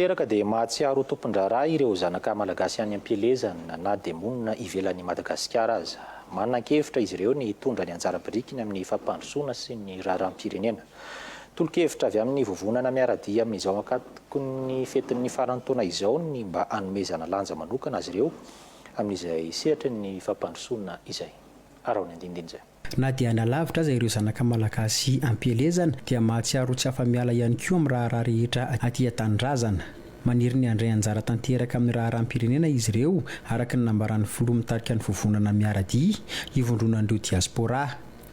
Tanteraka dia mahatsiaro ho tompon-draharaha ireo zanaka Malagasy any am-pielezana na dia monina ivelan'i Madagasikara aza. Manan-kevitra izy ireo ny hitondra ny anjara birikiny amin'ny fampandrosoana sy ny raharaham-pirenena. Tolo-kevitra avy amin'ny vovonana miara-dia amin'izao ankatokin'ny fetin'ny faran'ny taona izao ny mba hanomezana lanja manokana azy ireo amin'izay sehatry ny fampandrosoana izay. Araho ny andinindiny izay. Na dia any alavitra aza ireo zanaka Malagasy am-pielezana dia mahatsiaro ho tsy afa-miala ihany koa amin'ny raharaha rehetra aty an-tanindrazana. Maniry ny handray anjara tanteraka amin'ny raharaham-pirenena izy ireo, araka ny nambaran'ny filoha mitarika ny vovonana Miara-dia, ivondronan'ireo diaspora.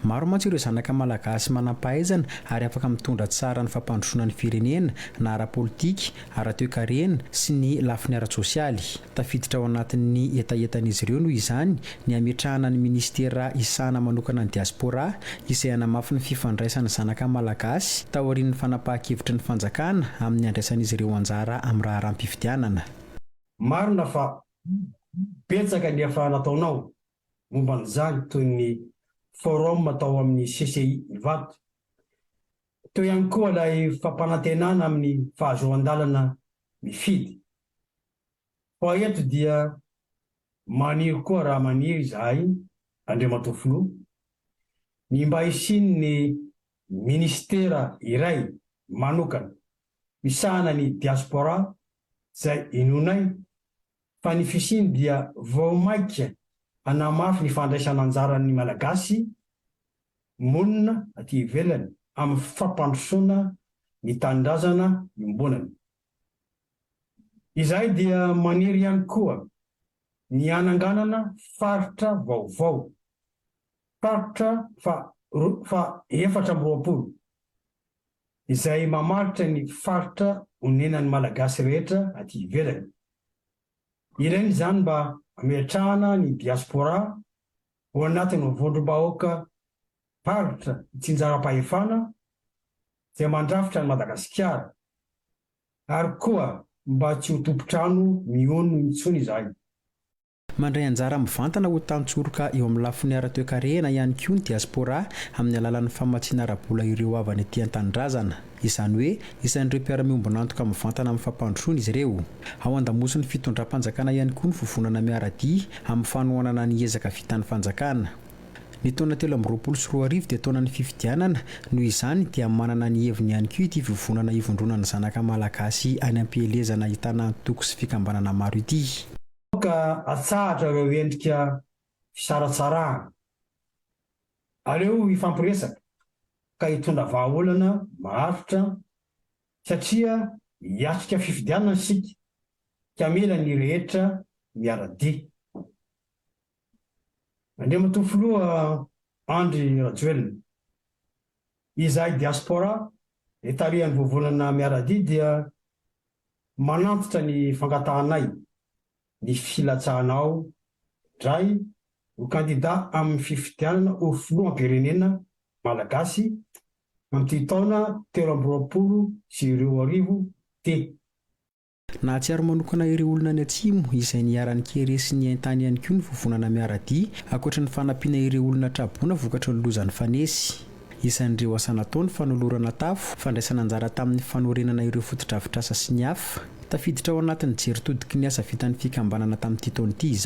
Maro mantsy ireo zanaka Malagasy manam-pahaizana ary afaka mitondra tsara ny fampandrosoana ny firenena, na ara-politika, ara-toekarena sy ny lafiny ara-tsosialy. Tafiditra ao anatin'ny hetahetan'izy ireo noho izany ny hametrahana ny minisitera hisahana manokana ny diaspora, izay hanamafy ny fifandraisan'ny zanaka malagasy, taorian'ny fanapahan-kevitry ny fanjakana amin'ny handraisan'izy ireo anjara amin'ny raharaham-pifidianana. Marina fa betsaka ny efa nataonao momba an'izany toy ny forum tao amin'ny CCI Ivato. Teo ihany koa ilay fampanantenana amin'ny fahazoan-dalana mifidy. Fa eto dia maniry koa raha maniry izahay, Andriamatoa Filoha, ny mba hisian'ny Minisitera iray manokana misahana ny Diaspora izay inoanay fa ny fisiany dia vao maika hanamafy ny fandraisan'anjaran'ny Malagasy monina aty ivelany amin'ny fampandrosoana ny Tanindrazana iombonana. Izahay dia maniry ihany koa ny hananganana faritra vaovao, faritra faha efatra amby roapolo, izay mamaritra ny faritra onenan'ny Malagasy rehetra aty ivelany. Ilaina izany mba hametrahana ny diaspora ho anatin'ny vondrom-bahoaka faritra itsinjaram-pahefana dia mandrafitra an'i Madagasikara ary koa mba tsy ho tompon-trano miono intsony izahay. Mandray anjara mivantana ho tantsoroka eo amin'ny lafiny ara-toekarena ihany koa ny diaspora amin'ny alalan'ny famatsiana ara-bola ireo havany ety an-tanindrazana. Izany hoe isan'ireo mpiara-miombon'antoka mivantana amin'ny fampandrosoana izy ireo. Ao an-damosin'ny fitondram-panjakana ihany koa ny vovonana miara-dia amin'ny fanohanana ny ezaka vitan'ny fanjakana. Ny taona telo amby roapolo sy roa arivo dia taonan'ny fifidianana, noho izany dia manana ny heviny ihany koa ity vovonana ivondroana ny zanaka Malagasy any am-pielezana ahitana antoko sy fikambanana maro ity. Aoka atsahatra ireo endrika fisaratsarahana. Aleo hifampiresaka ka hitondra vahaolana maharitra satria hiatrika fifidianana isika ka mila ny rehetra miara-dia. Andriamatoa Filoha Andry Rajoelina, izahay Diaspora dia tarihan'ny Vovonana Miara-dia dia manantitra ny fangatahanay ny filatsahanao indray ho kandida amin'ny fifidianana ho Filoham-pirenena Malagasy amin'ity taona telo amby roapolo sy roa arivo ity. Nahatsiaro manokana ireo olona any Atsimo izay niharan'ny kere sy ny haintany ihany koa ny Vovonana Miara-dia, ankoatra ny fanampiana ireo olona tra-boina vokatry ny loza nifanesy. Isan'ireo asa natao ny fanolorana tafo, fandraisana anjara tamin'ny fanorenana ireo fotodrafitrasa sy ny hafa. Tafiditra ao anatin'ny jeritodiky ny asa vitan'ny fikambanana tamin'ity taona ity izany.